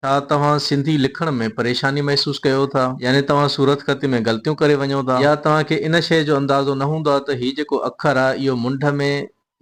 ڇا توهان سنڌي لکڻ ۾ پريشاني محسوس ڪيو ٿا؟ يعني توهان صورتخطي ۾ غلطيون ڪري وڃو ٿا يا توهان کي ان شيء جو اندازو نه هوندو آهي ته هي جيڪو اکر آهي اهو منڍ ۾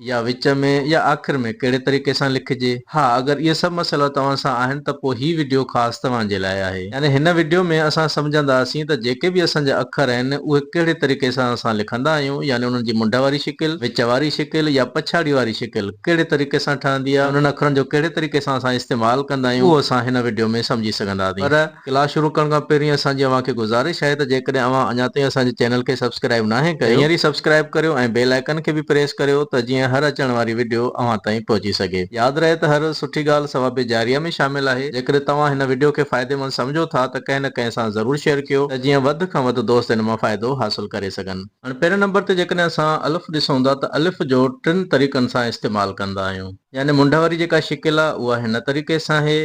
يا وچ ۾ يا آخر ۾ ڪهڙي طريقي سان لکجي؟ ها اگر اهي سڀ مسئلا توهان سان آهن ته پوء هي وڊيو خاص توهان جي لاء آهي. يعني هن وڊيو ۾ اسان سمجهنداسين ته جيڪي به اسان جا اکر آهن اهي ڪهڙي طريقي سان اسان لکندا آهيون يعني انهن جي منڍ واري شڪل، وچ واري شڪل يا پڇاڙي واري شڪل. ڪهڙي طريقي سان ٺهندي آهي ۽ انهن اکرن جو ڪهڙي طريقي سان اسان استعمال ڪندا آهيون اهو اسان هن وڊيو ۾ سمجهي سگهنداسين پر ڪلاس شروع ڪرڻ کان پهرين اسان جي اوهان کي گذارش آهي ته جيڪڏهن اوهان اڃا تائين اسان جي چينل کي سبسڪرائيب ناهي ڪيو ته هينئر ئي سبسڪرائيب ڪريو ۽ بيل آئيڪن کي به پريس ڪريو ته جيئن هر اچڻ واري وڊيو اوهان تائين پهچي سگهي. ياد رهي ته هر سٺي ڳالهه ثواب جاريه ۾ شامل آهي جيڪڏهن توهان هن وڊيو کي فائديمند سمجهو ٿا ته ڪنهن نه ڪنهن سان ضرور شيئر ڪيو ته جيئن وڌ کان وڌ دوست ان مان فائدو حاصل ڪري سگهن. هاڻي پهرين نمبر تي جيڪڏهن اسان الف ڏسون ٿا ته الف جو ٽن طريقن سان استعمال ڪندا آهيون. يعني منڍ واري جيڪا شڪل آهي اها هن طريقي سان آهي،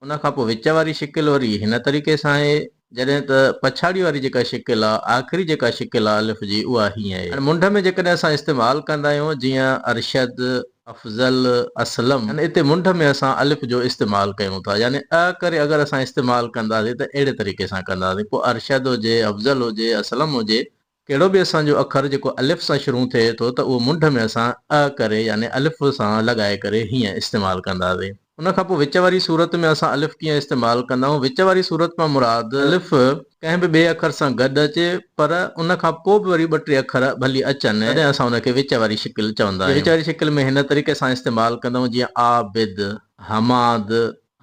ان کان پوء وچ واري شڪل وري هن طريقي سان آهي، جڏهن ته پڇاڙي واري جيڪا شڪل آهي، آخري جيڪا شڪل آهي الف جي اها هيئن آهي. هاڻي منڍ ۾ جيڪڏهن اسان استعمال ڪندا آهيون جيئن ارشد، افضل اسلم، يعني اتي منڍ ۾ اسان الف جو استعمال ڪيون ٿا، يعني ء ڪري اگر اسان استعمال ڪنداسين ته اهڙي طريقي سان ڪنداسين، پوء ارشد هجي، افضل هجي، اسلم هجي، ڪهڙو به اسان جو اکر جيڪو الف سان شروع ٿئي ٿو ته اهو منڍ ۾ اسان ء ڪري يعني الف سان لڳائي ڪري هيئن استعمال ڪنداسين. ان کان پوء وچ واري صورت ۾ اسان الف ڪيئن استعمال ڪندائون؟ وچ واري صورت مان مراد الف ڪنهن به ٻئي اکر سان گڏ اچي پر ان کان پوء به وري ٻه ٽي اکر ڀلي اچن تڏهن اسان ان کي وچ واري شڪل چوندا آهيون. وچ واري شڪل ۾ هن طريقي سان استعمال ڪندائون جيئن عابد، حماد،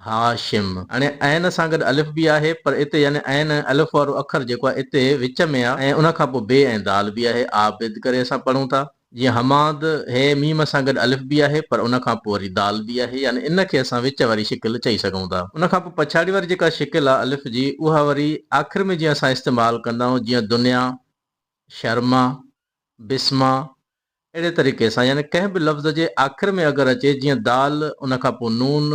هاشم. هاڻي عين سان گڏ الف به آهي پر اتي يعني عين ۽ الف وارو اکر جيڪو آهي اتي وچ ۾ آهي ۽ ان کان پوء بي ۽ دال به آهي عابد ڪري اسان پڙهون ٿا. جيئن حماد، هيء ميم سان گڏ الف به آهي، پر ان کان پوء وري دال به آهي، يعني ان کي اسان وچ واري شڪل چئي سگهون ٿا. ان کان پوء پڇاڙي واري جيڪا شڪل آهي الف جي، اها وري آخر ۾ جيئن اسان استعمال ڪندا آهيون، جيئن دنيا، شرما، بسما، اهڙي طريقي سان، يعني ڪنهن به لفظ جي آخر ۾ اگر اچي، جيئن دال، ان کان پوء نون،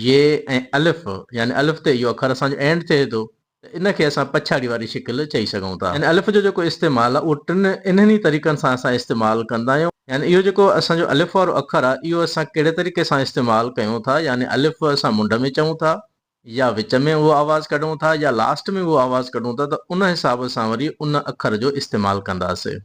يي ۽ الف، يعني الف تي اهو اکر اسان جو اينڊ ٿئي ٿو، ته ان کي اسان پڇاڙي واري شڪل چئي سگهون ٿا. يعني الف جو جيڪو استعمال آهي اهو ٽن انهن ئي طريقن سان اسان استعمال ڪندا آهيون. يعني اهو جيڪو اسان جو الف وارو اکر آهي اهو اسان ڪهڙي طريقي سان استعمال ڪيون ٿا يعني الف اسان منڍ ۾ چئون ٿا يا وچ ۾ اهو آواز ڪڍون ٿا يا لاسٽ ۾ اهو آواز ڪڍون ٿا ته ان حساب سان وري ان اکر جو استعمال ڪنداسين.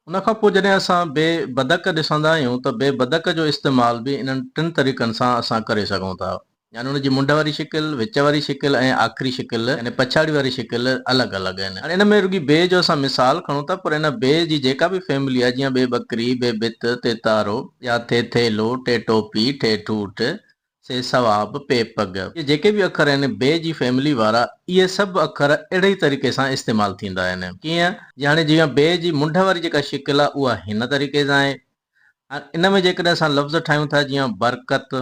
ان کان پوء جڏهن اسان بي بدڪ ڏسندا آهيون ته بي بدڪ جو استعمال به انهن ٽن طريقن سان اسان ڪري سگهون ٿا يعني ان جي منڍ واري شڪل، وچ واري شڪل ۽ آخري شڪل يعني پڇاڙي واري شڪل الڳ الڳ آهن. هاڻي ان ۾ رڳي بي جو اسان مثال کڻون ٿا پر ان بي جي جيڪا به فيملي آهي جيئن بي ٻڪري، بي ڀت، تيتارو يا ٿيٿيلو، ٺيٺوپي، ٺيٺوٺ، سي سوا ب پي پگ. اهي جيڪي به اکر آهن بي جي فيملي وارا اهي سڀ اکر اهڙي ئي طريقي سان استعمال ٿيندا آهن. ڪيئن؟ جياڻي جيئن بي جي منڍ واري جيڪا شڪل آهي اها هن طريقي سان آهي. هاڻ ان ۾ جيڪڏهن اسان لفظ ٺاهيون ٿا جيئن برڪت،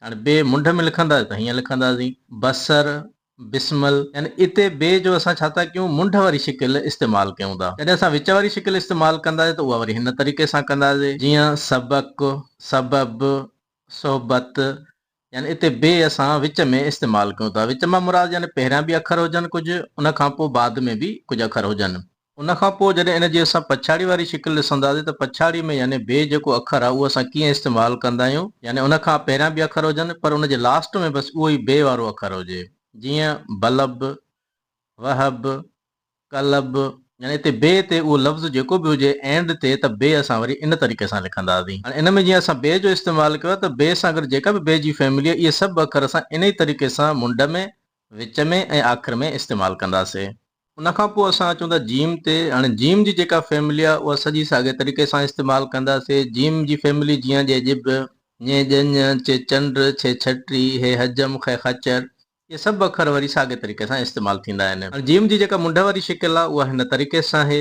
هاڻي بي منڍ ۾ لکنداسين ته هيئن لکنداسين، بصر، بسمل، يعني اتي بي جو اسان ڇا ٿا ڪيون منڍ واري شڪل استعمال ڪيون ٿا. جڏهن اسان وچ واري شڪل استعمال ڪنداسين ته اها وري هن طريقي سان ڪنداسين جيئن سبق، سبب، صحبت، يعني اتي بي اسان وچ ۾ استعمال ڪيون ٿا. وچ مان مراد يعني پهريان به اکر هجن ڪجهه، ان کان پوء بعد ۾ به ڪجهه اکر هجن. ان کان پوء جڏهن ان جي اسان پڇاڙي واري شڪل ڏسنداسين ته پڇاڙي ۾ يعني بي جيڪو اکر آهي اهو اسان ڪيئن استعمال ڪندا آهيون، يعني ان کان پهريان به اکر هجن پر ان جي لاسٽ ۾ بس اهو ئي بي وارو اکر هجي. جيئن، بلب، وهب. قلب، يعني اتي بي تي اهو لفظ جيڪو به هجي and تي ته بي اسان وري ان طريقي سان لکنداسين. هاڻي ان ۾ جيئن اسان بي جو استعمال ڪيو آهي ته بي سان گڏ جيڪا به بي جي فيملي آهي اهي سڀ اکر اسان انهي طريقي سان منڍ ۾، وچ ۾، ۽ آخر ۾ استعمال ڪنداسين. ان کان پوء اسان اچون ٿا جيم تي. هاڻي جيم جي جيڪا فيملي آهي اها سڄي ساڳئي طريقي سان استعمال ڪنداسين. جيم جي فيملي جيئن ڄي ڄڀ، ڃي ڄڃ، چي چنڊ، ڇي ڇٽي، هي حجم، خي خچر، اهي سڀ اکر وري ساڳئي طريقي سان استعمال ٿيندا آهن. هاڻي جيم جي جيڪا منڍ واري شڪل آهي اها هن طريقي سان آهي.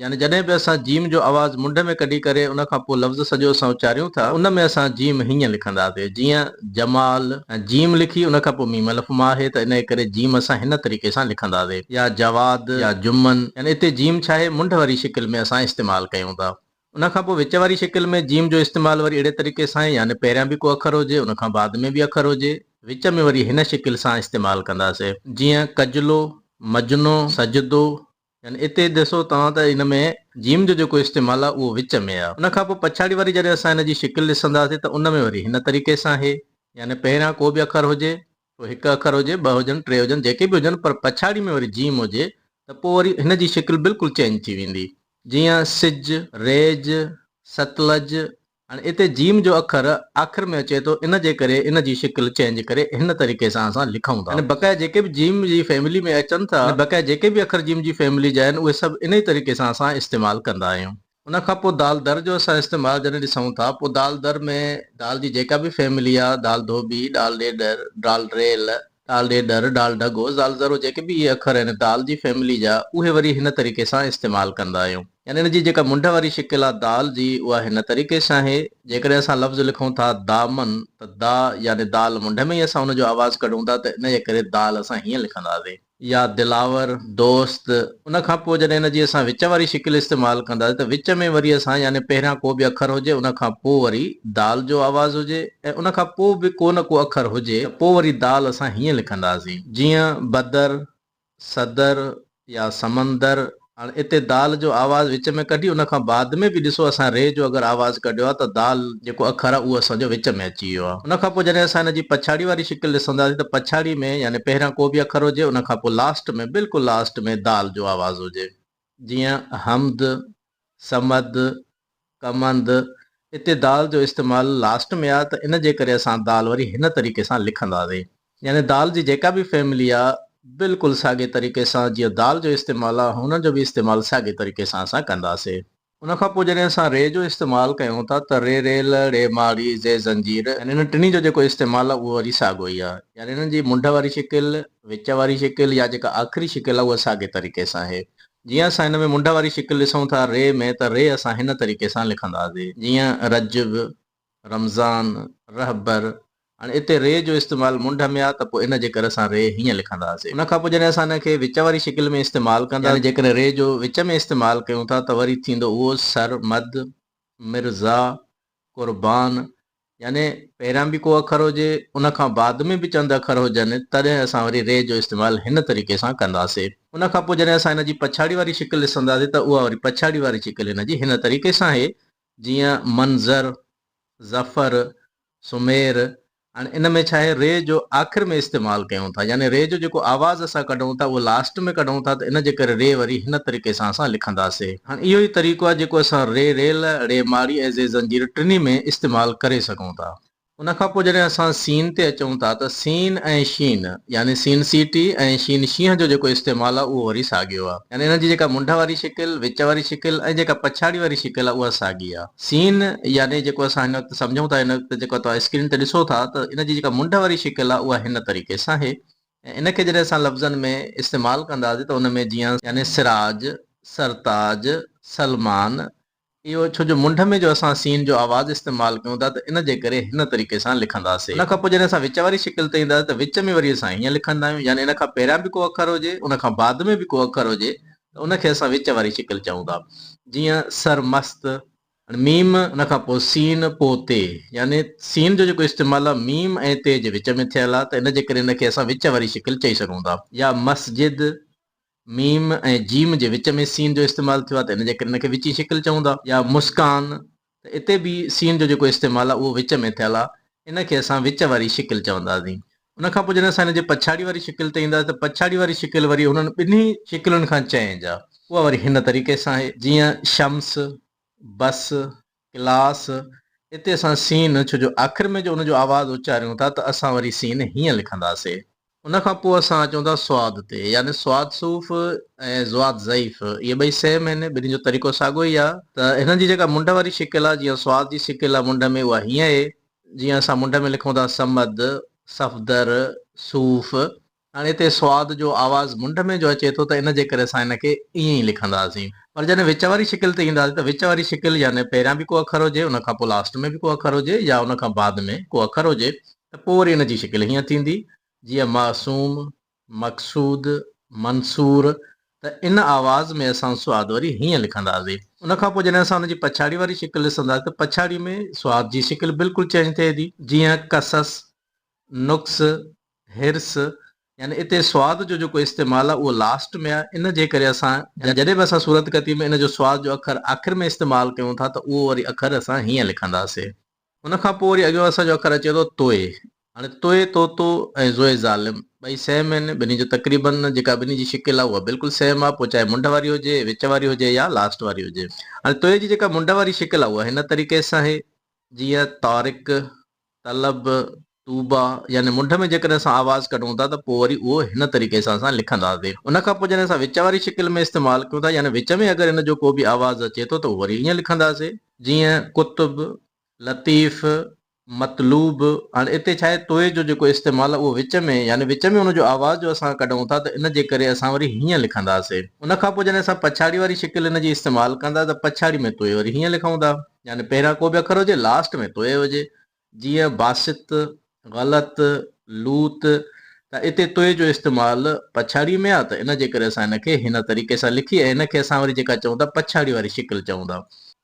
يعني جڏهن به اسان جيم جو آواز منڍ ۾ ڪڍي ڪري ان کان پوء لفظ سڄو اسان اچاريون ٿا ته ان ۾ اسان جيم هيئن لکنداسين جيئن، جمال، ۽ جيم لکي ان کان پوء ميم الف مان آهي ته انهيء ڪري جيم اسان هن طريقي سان لکنداسين يا جواد يا جمن يعني اتي جيم ڇاهي منڍ واري شڪل ۾ اسان استعمال ڪيون ٿا. ان کان پوء وچ واري شڪل ۾ جيم جو استعمال وري اهڙي طريقي سان آهي يعني پهريان به ڪو اکر هجي ان کان بعد ۾ به اکر هجي وچ ۾ وري هن شڪل سان استعمال ڪنداسين جيئن ڪجلو، مجنو، سجدو يعني اتي ڏسو توهان ته ان ۾ جيم جو جيڪو استعمال آهي اهو وچ ۾ آهي ان کان پوء پڇاڙي واري جڏهن اسان ان جي شڪل ڏسنداسين ته ان ۾ وري هن طريقي سان آهي يعني پهريان ڪو به اکر هجي پوء هڪ اکر هجي، ٻه هجن، ٽي هجن، جيڪي به هجن پر پڇاڙي ۾ وري جيم هجي ته پوء وري هن جي شڪل بلڪل چينج ٿي ويندي. جيئن سج، ريج، ستلج هاڻي اتي جيم جو اکر آخر ۾ اچي ٿو ان جي ڪري ان جي شڪل چينج ڪري هن طريقي سان اسان لکون ٿا. هاڻي بقايا جيڪي به جيم جي فيملي ۾ اچن ٿا هاڻي بقايا جيڪي به اکر جيم جي فيملي جا آهن اهي سڀ انهي طريقي سان اسان استعمال ڪندا آهيون. ان کان پوء دال در جو اسان استعمال جڏهن ڏسون ٿا پوء دال در ۾ دال جي جيڪا به فيملي آهي دال ڌوٻي، ڊال ڏيڏر، ڊال ريل، ڊال ڏيڏر، ڊال ڍڳو، زال ذرو جيڪي به اهي اکر آهن دال جي فيملي جا اهي وري هن طريقي سان استعمال ڪندا آهيون يعني ان جي جيڪا منڍ واري شڪل آهي دال جي اها هن طريقي سان آهي جيڪڏهن اسان لفظ لکون ٿا دامن ته دا يعني دال منڍ ۾ ئي اسان ان جو آواز ڪڍون ٿا ته ان جي ڪري دال اسان هيئن لکنداسين. يا دلاور، دوست، ان کان پوء جڏهن ان جي اسان وچ واري شڪل استعمال ڪنداسين ته وچ ۾ وري اسان يعني پهريان ڪو به اکر هجي ان کان پوء وري دال جو آواز هجي ۽ ان کان پوء به ڪو نه ڪو اکر هجي ته پوء وري دال اسان هيئن لکنداسين جيئن بدر، صدر يا سمندر هاڻ اتي دال جو آواز وچ ۾ ڪڍي ان کان بعد ۾ به ڏسو اسان ري جو اگر آواز ڪڍيو آهي ته دال جيڪو اکر آهي اهو اسان جو وچ ۾ اچي ويو آهي ان کان پوء جڏهن اسان ان جي پڇاڙي واري شڪل ڏسنداسين ته پڇاڙي ۾ يعني پهريان ڪو به اکر هجي ان کان پوء لاسٽ ۾ بلڪل لاسٽ ۾ دال جو آواز هجي جيئن حمد، صمد، ڪمند، اتي دال جو استعمال لاسٽ ۾ آ ته ان جي ڪري اسان دال وري هن طريقي سان لکنداسين. يعني دال جي جيڪا به فيملي آ بلڪل ساڳي طريقي سان جيئن دال جو استعمال آ هن جو به استعمال ساڳي طريقي سان اسان ڪنداسين. ان کان پوء جڏهن اسان ري جو استعمال ڪيون ٿا ته ري ريل، ڙي ماڙي، زي زنجير يعني انهن ٽنهي جو جيڪو استعمال آ اهو وري ساڳو ئي آ. يعني انهن جي منڍ واري شڪل، وچ واري شڪل يا جيڪا آخري شڪل آ اها ساڳي طريقي سان آهي. جيئن اسان هن ۾ منڍ واري شڪل ڏسون ٿا ري ۾ ته ري اسان هن طريقي سان لکنداسي جيئن رجب، رمضان، رهبر هاڻي اتي ري جو استعمال منڍ ۾ آ ته پوء ان جي ڪري اسان ري هيئن لکنداسي ان کان پوء جڏهن اسان هن کي وچ واري شڪل ۾ استعمال ڪندا يعني جيڪڏهن ري جو وچ ۾ استعمال ڪيون ٿا ته وري ٿيندو اهو سر مد، مرزا، قربان، يعني پهريان به ڪو اکر هجي، ان کان بعد ۾ به چند اکر هجن، تڏهن اسان وري ري جو استعمال هن طريقي سان ڪنداسين. ان کان پوء جڏهن اسان هن جي پڇاڙي واري شڪل ڏسنداسين ته اها وري پڇاڙي واري شڪل هن جي هن طريقي سان آهي، جيئن، منظر، ظفر، سمير، هاڻي ان ۾ ڇا آهي، ري جو آخر ۾ استعمال ڪيون ٿا، يعني ري جو جيڪو آواز اسان ڪڍون ٿا، اهو لاسٽ ۾ ڪڍون ٿا ته ان جي ڪري ري وري هن طريقي سان اسان لکنداسين. هاڻ اهو ئي طريقو آهي جيڪو اسان ري ريل، ڙي ماري ۽ زي زنجير ٽنهي ۾ استعمال ڪري سگهون ٿا. ان کان پوء جڏهن اسان سين تي اچون ٿا ته سين ۽ شين يعني سين سي ٽي ۽ شين شينهن جو جيڪو استعمال آهي اهو وري ساڳيو آهي. يعني انهن جي جيڪا منڍ واري شڪل، وچ واري شڪل ۽ جيڪا پڇاڙي واري شڪل آهي اها ساڳي آهي. سين يعني جيڪو اسان هن وقت سمجهون ٿا هن وقت جيڪو توهان اسڪرين تي ڏسو ٿا ته ان جي جيڪا منڍ واري شڪل آهي اها هن طريقي سان آهي. ۽ ان کي جڏهن اسان لفظن ۾ استعمال ڪنداسين ته ان ۾ جيان يعني سراج، سرتاج، سلمان، اهو ڇو جو منڍ ۾ جو اسان سين جو آواز استعمال ڪيون ٿا ته ان جي ڪري هن طريقي سان لکنداسين. ان کان پوء جڏهن اسان وچ واري شڪل تي اينداسين ته وچ ۾ وري اسان هيئن لکندا آهيون يعني ان کان پهريان به ڪو اکر هجي ان کان بعد ۾ به ڪو اکر هجي ته ان کي اسان وچ واري شڪل چئون ٿا جيئن سرمست، هاڻي ميم ان کان پوء سين پوء تي يعني سين جو جيڪو استعمال آهي ميم ۽ تي جي وچ ۾ ٿيل آهي ته ان جي ڪري ان کي اسان وچ واري شڪل چئي سگهون ٿا يا مسجد ميم ۽ جيم جي وچ ۾ سين جو استعمال ٿيو آهي ته ان جي ڪري ان کي وچين شڪل چئون ٿا يا مسڪان ته اتي به سين جو جيڪو استعمال آهي اهو وچ ۾ ٿيل آهي ان کي اسان وچ واري شڪل چونداسين ان کان پوء جڏهن اسان هن جي پڇاڙي واري شڪل تي اينداسين ته پڇاڙي واري شڪل وري انهن ٻنهي شڪلن کان چئنج آ. اها وري هن طريقي سان آهي جيئن شمس، بس، ڪلاس، اتي اسان سين ڇو جو آخر ۾ جو ان جو آواز اچاريون ٿا ته اسان وري سين هيئن لکنداسين. ان کان پوء اسان اچون ٿا صاد تي يعني صاد صوف ۽ ضاد ضعيف اهي ٻئي سيم آهن ٻنهي جو طريقو ساڳو ئي آ ته هنن جي جيڪا منڍ واري شڪل آ جيئن صاد جي شڪل آ منڍ ۾ اها هيئن اهي جيئن اسان منڍ ۾ لکون ٿا صمد، صفدر، صوف، هاڻي هتي صاد جو آواز منڍ ۾ جو اچي ٿو ته ان جي ڪري اسان ان کي ائين ئي لکنداسين. پر جڏهن وچ واري شڪل تي اينداسين ته وچ واري شڪل يعني پهريان به ڪو اکر هجي ان کان پوء لاسٽ ۾ به ڪو اکر هجي يا ان کان بعد ۾ ڪو اکر هجي ته پوء وري ان جي شڪل هيئن ٿيندي جيئن معصوم، مقصود، منصور، ته ان آواز ۾ اسان سواد وري هيئن لکنداسين. ان کان پوء جڏهن اسان ان جي پڇاڙي واري شڪل ڏسنداسين ته پڇاڙي ۾ سواد جي شڪل بلڪل چينج ٿئي ٿي. جيئن قصص، نقص، حرص، يعني اتي سواد جو جيڪو استعمال آهي اهو لاسٽ ۾ آهي. ان جي ڪري اسان جڏهن به اسان صورتڪتي ۾ ان جو سواد جو اکر آخر ۾ استعمال ڪيون ٿا ته اهو وري اکر اسان هيئن لکنداسين. ان کان پوء وري اڳيون اسان جو اکر اچي ٿو توء. هاڻي توء، طوطو، ۽ زوء ظالم ٻئي سيم آهن. ٻنهي جو تقريباً جيڪا ٻنهي جي شڪل آهي اها بلڪل سيم آهي، پوء چاهي منڍ واري هجي، وچ واري هجي يا لاسٽ واري هجي. هاڻي توء جي جيڪا منڍ واري شڪل آهي اها هن طريقي سان آهي، جيئن، طارق، طلب، طوبٰي يعني منڍ ۾ جيڪڏهن اسان آواز ڪڍون ٿا ته پوء وري اهو هن طريقي سان اسان لکنداسين. ان کان پوء جڏهن اسان وچ واري شڪل ۾ استعمال ڪيون ٿا يعني وچ ۾ اگر ان جو ڪو به آواز اچي ٿو ته اهو وري ائين لکنداسين. جيئن قطب، لطيف، مطلوب، هاڻي اتي ڇا آهي طوء جو جيڪو استعمال آهي اهو وچ ۾ يعني وچ ۾ ان جو آواز جو اسان ڪڍون ٿا ته ان جي ڪري اسان وري هيئن لکنداسين. ان کان پوء جڏهن اسان پڇاڙي واري شڪل ان جي استعمال ڪندا ته پڇاڙي ۾ طوء وري هيئن لکون ٿا. يعني پهريان ڪو به اکر هجي لاسٽ ۾ طوء هجي جيئن باسط، غلط، لوط ته اتي توئي جو استعمال پڇاڙيء ۾ آ ته ان جي ڪري اسان ان کي هن طريقي سان لکي ۽ ان کي اسان وري جيڪا چئون ٿا پڇاڙي واري شڪل چئون ٿا.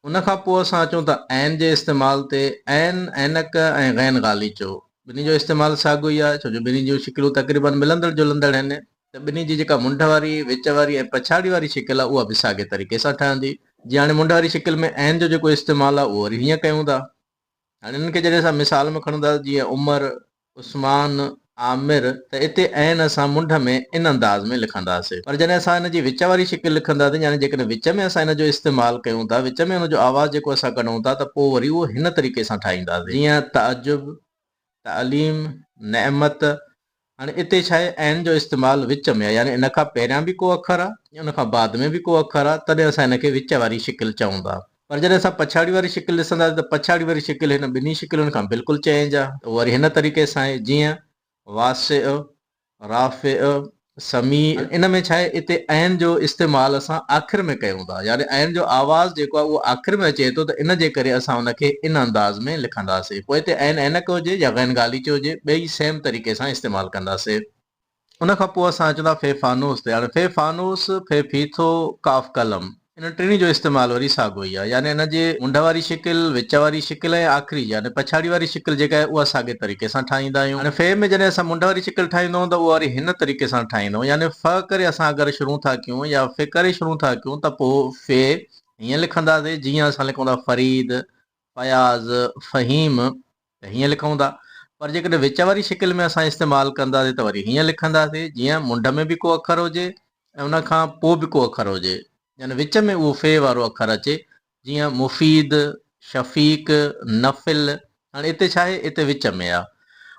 ان کان پوء اسان اچون ٿا عين جي استعمال تي، عين، عينڪ ۽ غين غاليچو. ٻنهي جو استعمال ساڳيو ئي آ، ڇو جو ٻنهي جون شڪلون تقريباً ملندڙ جلندڙ آهن ته ٻنهي جي جيڪا منڍ واري، وچ واري ۽ پڇاڙي واري شڪل آ اها به ساڳي طريقي سان ٺهندي. جيئن هاڻي منڍ واري شڪل ۾ عين جو جيڪو استعمال آ اهو وري هيئن ڪيون ٿا. هاڻي انهن کي جڏهن اسان مثال ۾ کڻون ٿا جيئن عمر، عثمان، عامر ته اتي عين اسان منڍ ۾ ان انداز ۾ لکنداسين پر جڏهن اسان ان جي وچ واري شڪل لکنداسين يعني جيڪڏهن وچ ۾ اسان ان جو استعمال ڪيون ٿا وچ ۾ ان جو آواز جيڪو اسان ڪڍون ٿا ته پوء وري اهو هن طريقي سان ٺاهينداسين جيئن تعجب، تعليم نعمت هاڻي اتي ڇا آهي عين جو استعمال وچ ۾ آهي يعني ان کان پهريان به ڪو اکر آهي ۽ ان کان بعد ۾ به ڪو اکر آهي تڏهن اسان هن کي وچ واري شڪل چئون ٿا پر جڏهن اسان پڇاڙي واري شڪل ڏسنداسين ته پڇاڙي واري شڪل هن ٻنهي شڪلن کان بلڪل چينج آهي اهو وري هن طريقي سان آهي جيئن واسع. رافع سميع ان ۾ ڇاهي اتي عين جو استعمال اسان آخر ۾ ڪيون ٿا يعني عين جو آواز جيڪو آهي اهو آخر ۾ اچي ٿو ته ان جي ڪري اسان ان کي ان انداز ۾ لکنداسين پوء اتي عين عينڪ هجي يا غين غاليچو هجي ٻئي سيم طريقي سان استعمال ڪنداسين. ان کان پوء اسان اچون ٿا في فانوس تي هاڻي في فانوس في فيٿو قاف قلم انهن ٽنهي جو استعمال وري ساڳو ئي آهي، يعني ان جي منڍ واري شڪل، وچ واري شڪل ۽ آخري يعني پڇاڙي واري شڪل جيڪا آهي اها ساڳي طريقي سان ٺاهيندا آهيون. هاڻي فيء ۾ جڏهن اسان منڍ واري شڪل ٺاهيندؤن ته اها وري هن طريقي سان ٺاهيندؤن، يعني ف ڪري اسان اگر شروع ٿا ڪيون يا ف ڪري شروع ٿا ڪيون ته پوء فيء هيئن لکنداسين جيئن اسان لکون ٿا فريد، فياض، فهيم، ته هيئن لکون ٿا پر جيڪڏهن وچ واري شڪل ۾ اسان استعمال ڪنداسين ته وري هيئن لکنداسين جيئن منڍ ۾ به ڪو اکر هجي ۽ ان کان پوء به ڪو اکر هجي يعني وچ ۾ اهو في وارو اکر اچي جيئن مفيد، شفيق، نفل هاڻي اتي ڇا آهي اتي وچ ۾ آهي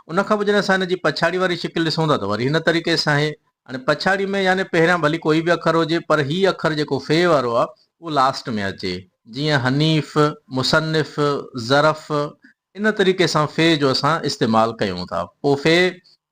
ان کان پوء جڏهن اسان ان جي پڇاڙي واري شڪل ڏسون ٿا ته وري هن طريقي سان آهي هاڻي پڇاڙي ۾ يعني پهريان ڀلي ڪوئي به اکر هجي پر هي اکر جيڪو في وارو آ اهو لاسٽ ۾ اچي جيئن حنيف، مصنف، ظرف ان طريقي سان في جو اسان استعمال ڪيون ٿا پو في،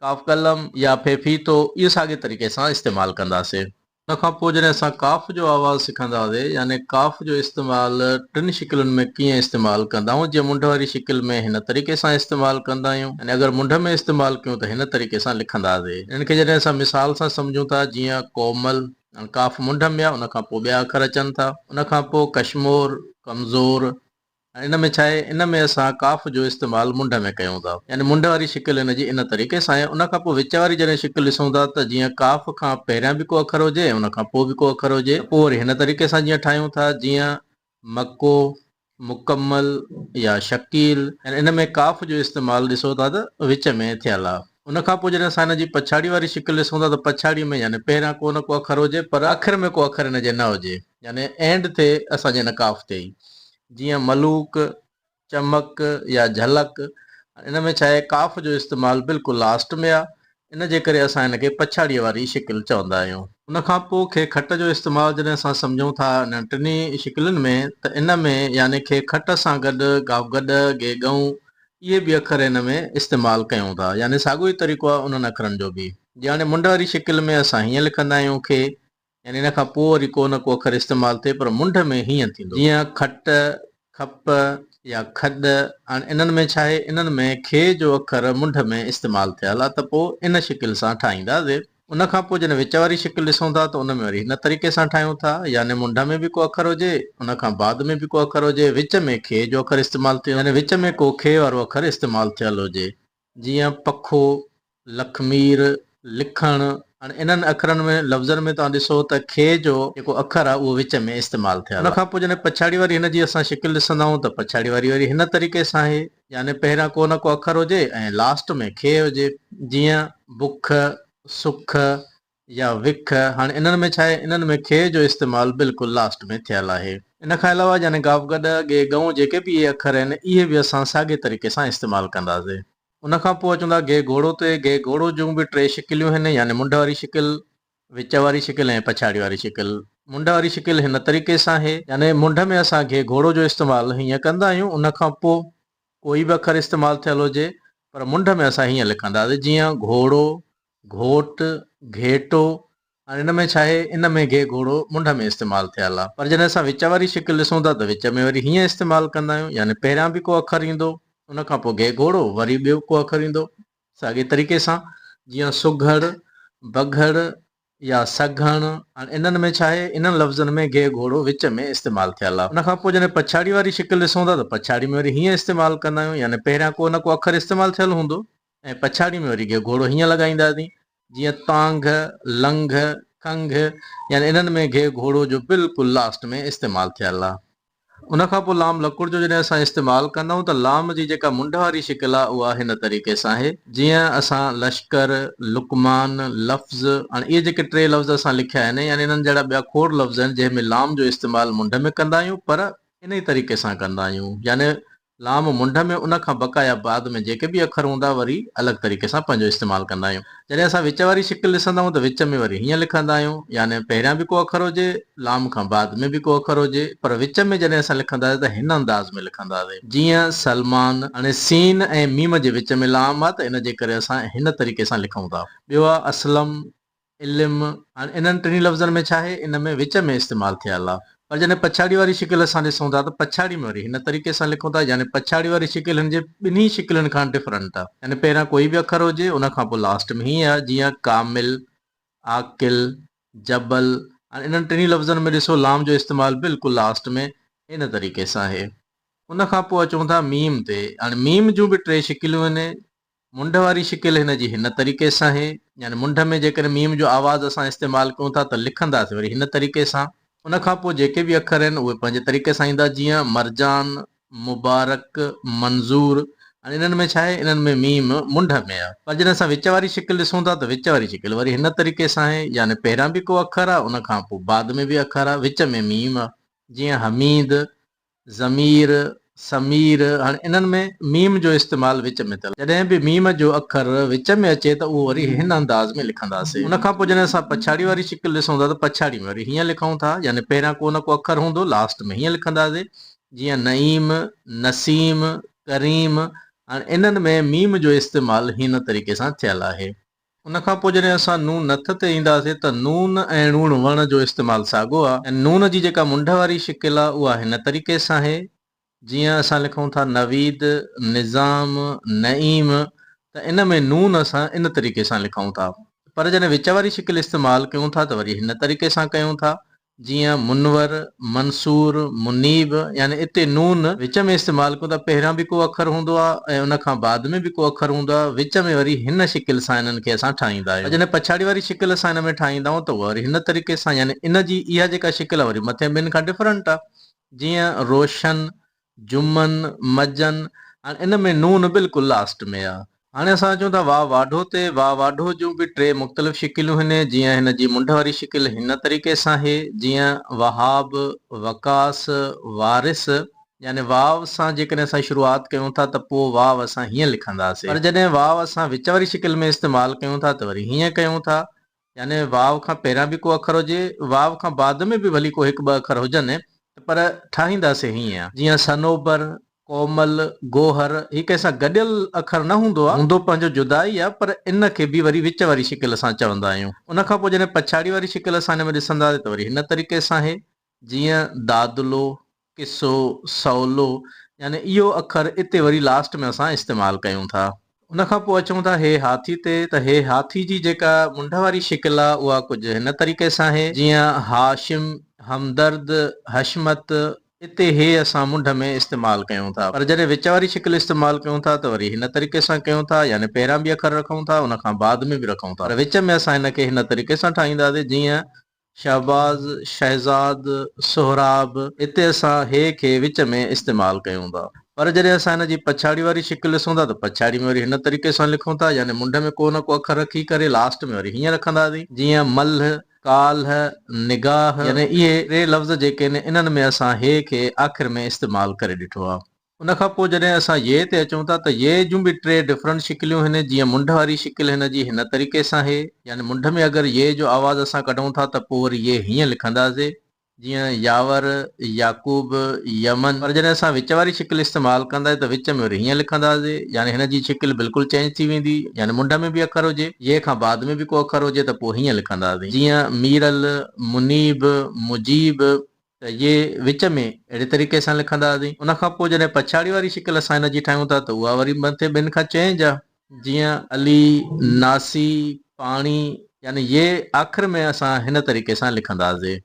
قاف قلم يا في فيتو اهي ساڳي طريقي سان استعمال ڪنداسي. ان کان پو جڏهن اسان قاف جو آواز سکنداسي يعني قاف جو استعمال ٽن شڪلن ۾ ڪيئن استعمال ڪندائون جيئن منڍ واري شڪل ۾ هن طريقي سان استعمال ڪندايون يعني اگر منڍ ۾ استعمال ڪيون ته هن طريقي سان لکنداسي. ان کي جڏهن اسان مثال سان سمجهون ٿا جيئن ڪومل ۽ قاف منڍ ۾ آ ان کان پوء ٻيا اکر اچن ٿا ان کان پوء ڪشمور، ڪمزور ۽ ان ۾ ڇاهي ان ۾ اسان قاف جو استعمال منڍ ۾ ڪيون ٿا يعني منڍ واري شڪل ان جي ان طريقي سان آهي ان کان پوء وچ واري جڏهن شڪل ڏسون ٿا ته جيئن قاف کان پهريان به ڪو اکر هجي ۽ ان کان پوء به ڪو اکر هجي ته پوء وري هن طريقي سان جيئن ٺاهيون ٿا جيئن مڪو، مڪمل يا شڪيل ۽ ان ۾ ڪاف جو استعمال ڏسو ٿا ته وچ ۾ ٿيل آ. ان کان پوء جڏهن اسان ان جي پڇاڙي واري شڪل ڏسون ٿا ته پڇاڙي ۾ يعني پهريان ڪو نه ڪو اکر هجي پر آخر ۾ ڪو اکر ان جي نه هجي يعني اينڊ ٿئي اسان جي ان ڪاف تي ئي جيئن ملوڪ، چمڪ يا جهلڪ، ان ۾ ڇا آهي قاف جو استعمال بلڪل لاسٽ ۾ آ، ان جي ڪري اسان ان کي پڇاڙيء واري شڪل چوندا آهيون. ان کان پوء کي کٽ جو استعمال جڏهن اسان سمجهون ٿا انهن ٽنهي شڪلين ۾ ته ان ۾ يعني کي کٽ سان گڏ قاف گڏ، گي ڳئون، اهي به اکر ان ۾ استعمال ڪيون ٿا، يعني ساڳيو ئي طريقو آ انهن اکرن جو به. جياڻي منڍ واري شڪل ۾ اسان هيئن لکندا آهيون کي، يعني ان کان پوء وري ڪو نه ڪو اکر استعمال ٿئي پر منڍ ۾ هينئن ٿيندو جيئن کٽ، کپ يا کڏ هاڻي انهن ۾ ڇا آهي انهن ۾ کي جو اکر منڍ ۾ استعمال ٿيل آ ته پوء ان شڪل سان ٺاهيندا زير ان کان پوء جڏهن وچ واري شڪل ڏسون ٿا ته ان ۾ وري هن طريقي سان ٺاهيون ٿا يعني منڍ ۾ به ڪو اکر هجي ان کان بعد ۾ به ڪو اکر هجي وچ ۾ کي جو اکر استعمال ٿيو يعني وچ ۾ ڪو کي وارو اکر استعمال ٿيل هجي جيئن پکو، لکمير، لکڻ، هاڻي انهن اکرن ۾ لفظن ۾ توهان ڏسو ته کي جو جيڪو اکر آهي اهو وچ ۾ استعمال ٿيل آهي. ان کان پوء جڏهن پڇاڙي واري هن جي اسان شڪل ڏسندا آهيون ته پڇاڙي واري وري هن طريقي سان آهي يعني پهريان ڪو نه ڪو اکر هجي ۽ لاسٽ ۾ کي هجي جيئن، بک، سک، يا وک، هاڻي انهن ۾ ڇاهي، انهن ۾ کي جو استعمال بلڪل لاسٽ ۾ ٿيل آهي. ان کان علاوه يعني گاف گڏ، ڳي ڳئون جيڪي به اهي اکر آهن، اهي به اسان ساڳي طريقي سان استعمال ڪنداسي. ان کان پوء اچون ٿا ڳي گهوڙو تي، ڳي گهوڙو جون به ٽي شڪليون آهن، يعني منڍ واري شڪل، وچ واري شڪل ۽ پڇاڙي واري شڪل. منڍ واري شڪل هن طريقي سان آهي. يعني منڍ ۾ اسان ڳي گهوڙو جو استعمال هيئن ڪندا آهيون، ان کان پوء ڪوئي به اکر استعمال ٿيل هجي، پر منڍ ۾ اسان هيئن لکنداسي جيئن گهوڙو، گهوٽ، گهيٽو، هاڻي هن ۾ ڇا آهي؟ ان ۾ گهي گهوڙو منڍ ۾ استعمال ٿيل آهي پر جڏهن اسان وچ واري شڪل ڏسون ٿا ته وچ ۾ وري هيئن استعمال ڪندا آهيون يعني پهريان به ڪو اکر ايندو ان کان پوء گهي گهوڙو وري ٻيو ڪو اکر ايندو ساڳئي طريقي سان جيئن سگهڙ، بگهڙ يا سگهڻ هاڻي انهن ۾ ڇا آهي؟ انهن لفظن ۾ گهي گهوڙو وچ ۾ استعمال ٿيل آهي ان کان پوء جڏهن پڇاڙي واري شڪل ڏسون ٿا ته پڇاڙي ۾ وري هيئن استعمال ڪندا آهيون يعني پهريان ڪو نه ڪو اکر استعمال ٿيل هوندو ۽ پڇاڙيء ۾ وري گهه گهوڙو هيئن لڳائينداسين جيئن تانگهه، لنگهه، کنگهه يعني انهن ۾ گهه گهوڙو جو بلڪل لاسٽ ۾ استعمال ٿيل آ. ان کان پوء لام لڪڙ جو جڏهن اسان استعمال ڪندائون ته لام جي جيڪا منڍ واري شڪل آ اها هن طريقي سان آهي جيئن اسان لشڪر، لقمان، لفظ هاڻي اهي جيڪي ٽي لفظ اسان لکيا آهن يعني انهن جهڙا ٻيا کوڙ لفظ آهن جنهن ۾ لام جو استعمال منڍ ۾ ڪندا آهيون پر انهي طريقي سان ڪندا آهيون يعني لام منڍ ۾ ان کان بقا يا بعد ۾ جيڪي به اکر هوندا وري الڳ طريقي سان پنهنجو استعمال ڪندا آهيون. جڏهن اسان وچ واري شڪل ڏسندا آهيون ته وچ ۾ وري هيئن لکندا آهيون يعني پهريان به ڪو اکر هجي لام کان بعد ۾ به ڪو اکر هجي پر وچ ۾ جڏهن اسان لکنداسين ته هن انداز ۾ لکنداسين جيئن سلمان. هاڻي سين ۽ ميم جي وچ ۾ لام آهي ته ان جي ڪري اسان هن طريقي سان لکون ٿا. ٻيو آهي اسلم. علم، هاڻي انهن ٽنهي لفظن ۾ ڇاهي؟ ان ۾ وچ ۾ استعمال ٿيل آ. پر جڏهن پڇاڙي واري شڪل اسان ڏسون ٿا ته پڇاڙي ۾ وري هن طريقي سان لکون ٿا يعني پڇاڙي واري شڪل هن جي ٻنهي شڪلن کان ڊفرنٽ آ. يعني پهريان ڪوئي به اکر هجي ان کان پوء لاسٽ ۾ هيء آ جيئن ڪامل، عاقل، جبل، هاڻي انهن ٽنهي لفظن ۾ ڏسو لام جو استعمال بلڪل لاسٽ ۾ هن طريقي سان آهي. ان کان پوء اچون ٿا ميم تي، هاڻي ميم جون به ٽي شڪليون هن منڍ واري شڪل هن جي هن طريقي سان هي، يعني منڍ ۾ جيڪڏهن ميم جو آواز اسان استعمال ڪيون ٿا ته لکنداسين وري هن طريقي سان. ان کان پوء جيڪي به اکر آهن اهي پنهنجي طريقي سان ايندا جيئن، مرجان، مبارڪ، منظور، هاڻي انهن ۾ ڇا آهي انهن ۾ ميم منڍ ۾ آهي پر جڏهن اسان وچ واري شڪل ڏسون ٿا ته وچ واري شڪل وري هن طريقي سان آهي يعني پهريان به ڪو اکر آهي ان کان پوء بعد ۾ به اکر آهي وچ ۾ ميم آهي جيئن حميد، ضمير، سمير، هاڻي انهن ۾ ميم جو استعمال وچ ۾ ٿيل. جڏهن به ميم جو اکر وچ ۾ اچي ته اهو وري هن انداز ۾ لکنداسين. ان کان پوء جڏهن اسان پڇاڙي واري شڪل ڏسون ٿا ته پڇاڙي ۾ وري هيئن لکون ٿا يعني پهريان ڪو نه ڪو اکر هوندو لاسٽ ۾ هيئن لکنداسين جيئن نعيم، نسيم، ڪريم، هاڻي انهن ۾ ميم جو استعمال هن طريقي سان ٿيل آهي. ان کان پوء جڏهن اسان نون ن تھ تي اينداسين تھ نون ۽ ڻوڻ وڻ جو استعمال ساڳو آ ۽ نون جي جيڪا منڍ واري شڪل آ اها هن طريقي سان هي جيئن اسان لکون ٿا نويد، نظام، نعيم تھ ان ۾ نون اسان ان طريقي سان لکون ٿا پر جڏهن وچ واري شڪل استعمال ڪيون ٿا تھ وري هن طريقي سان ڪيون ٿا جيئن منور، منصور، منيب يعني اتي نون وچ ۾ استعمال ڪون ٿا پهريان به ڪو اکر هوندو آ ۽ ان کان بعد ۾ به ڪو اکر هوندو آ وچ ۾ وري هن شڪل سان انهن کي اسان ٺاهيندا آهيون جڏهن پڇاڙي واري شڪل اسان ان ۾ ٺاهيندا آهيون ته اها وري هن طريقي سان يعني ان جي اها جيڪا شڪل آ وري مٿين ٻين کان ڊفرنٽ آ جيئن روشن، جمن، مجن هاڻي ان ۾ نون بلڪل لاسٽ ۾ آ. هاڻي اسان اچون ٿا واء واڍو تي. واء واڍو جون به ٽي مختلف شڪليون هن جيئن هن جي منڍ واري شڪل هن طريقي سان هي جيئن وهاب، وقاص، وارث يعني واء سان جيڪڏهن اسان شروعات ڪيون ٿا ته پوء واء اسان هيئن لکنداسين پر جڏهن واء اسان وچ واري شڪل ۾ استعمال ڪيون ٿا ته وري هيئن ڪيون ٿا يعني واو کان پهريان به ڪو اکر هجي، واو کان بعد ۾ به ڀلي ڪو هڪ ٻه اکر هجن ته پر ٺاهينداسين هيئن. جيئن صنوبر، ڪومل، گوهر هي ڪنهن سان گڏيل اکر نه هوندو آهي، هوندو پنهنجو جدا ئي آهي پر ان کي به وري وچ واري شڪل سان چوندا آهيون. ان کان پوء جڏهن پڇاڙي واري شڪل اسان هن ۾ ڏسنداسين ته وري هن طريقي سان هي جيئن دادلو، قصو، سولو يعني اهو اکر اتي وري لاسٽ ۾ اسان استعمال ڪيون ٿا. ان کان پوء اچون ٿا هي هاٿي تي ته هي هاٿي جي جيڪا منڍ واري شڪل آهي اها ڪجهه هن طريقي سان آهي جيئن هاشم، همدرد، حشمت اتي هي اسان منڍ ۾ استعمال ڪيون ٿا پر جڏهن وچ واري شڪل استعمال ڪيون ٿا ته وري هن طريقي سان ڪيون ٿا يعني پهريان به اکر رکون ٿا ان کان بعد ۾ به رکون ٿا پر وچ ۾ اسان هن کي هن طريقي سان ٺاهينداسين جيئن شهباز، شهزاد، سهراب، اتي اسان هي کي وچ ۾ استعمال ڪيون ٿا پر جڏهن اسان هن جي پڇاڙي واري شڪل ڏسون ٿا ته پڇاڙي ۾ وري هن طريقي سان لکون ٿا يعني منڍ ۾ ڪو نه ڪو اکر رکي ڪري لاسٽ ۾ وري هيئن رکنداسين جيئن ملهه، ڪالهه، نگاهه يعني اهي ٽي لفظ جيڪي آهن انهن ۾ اسان هي کي آخر ۾ استعمال ڪري ڏٺو آهي. ان کان پوء جڏهن اسان ي تي اچون ٿا ته ي جون به ٽي ڊفرنٽ شڪليون هن جيئن منڍ واري شڪل هن جي هن طريقي سان هي يعني منڍ ۾ اگر ي جو آواز اسان ڪڍون ٿا ته پوء وري ي هيئن لکنداسي جيئن ياور، يعقوب، يمن پر جڏهن اسان وچ واري شڪل استعمال ڪنداسي ته وچ ۾ وري هيئن لکنداسي يعني هن جي شڪل بلڪل چينج ٿي ويندي يعني منڍ ۾ به اکر هجي ي کان بعد ۾ به ڪو اکر هجي ته پوء هيئن لکنداسين جيئن ميرل، منيب، مجيب، ته جي وچ ۾ اهڙي طريقي سان لکنداسين. ان کان پوء جڏهن پڇاڙي واري شڪل اسان هن جي ٺاهيون ٿا ته اها وري مٿي ٻن کان چئين جا. جيئن، علي، ناسي، پاڻي، يعني يي آخر ۾ اسان هن طريقي سان لکنداسين.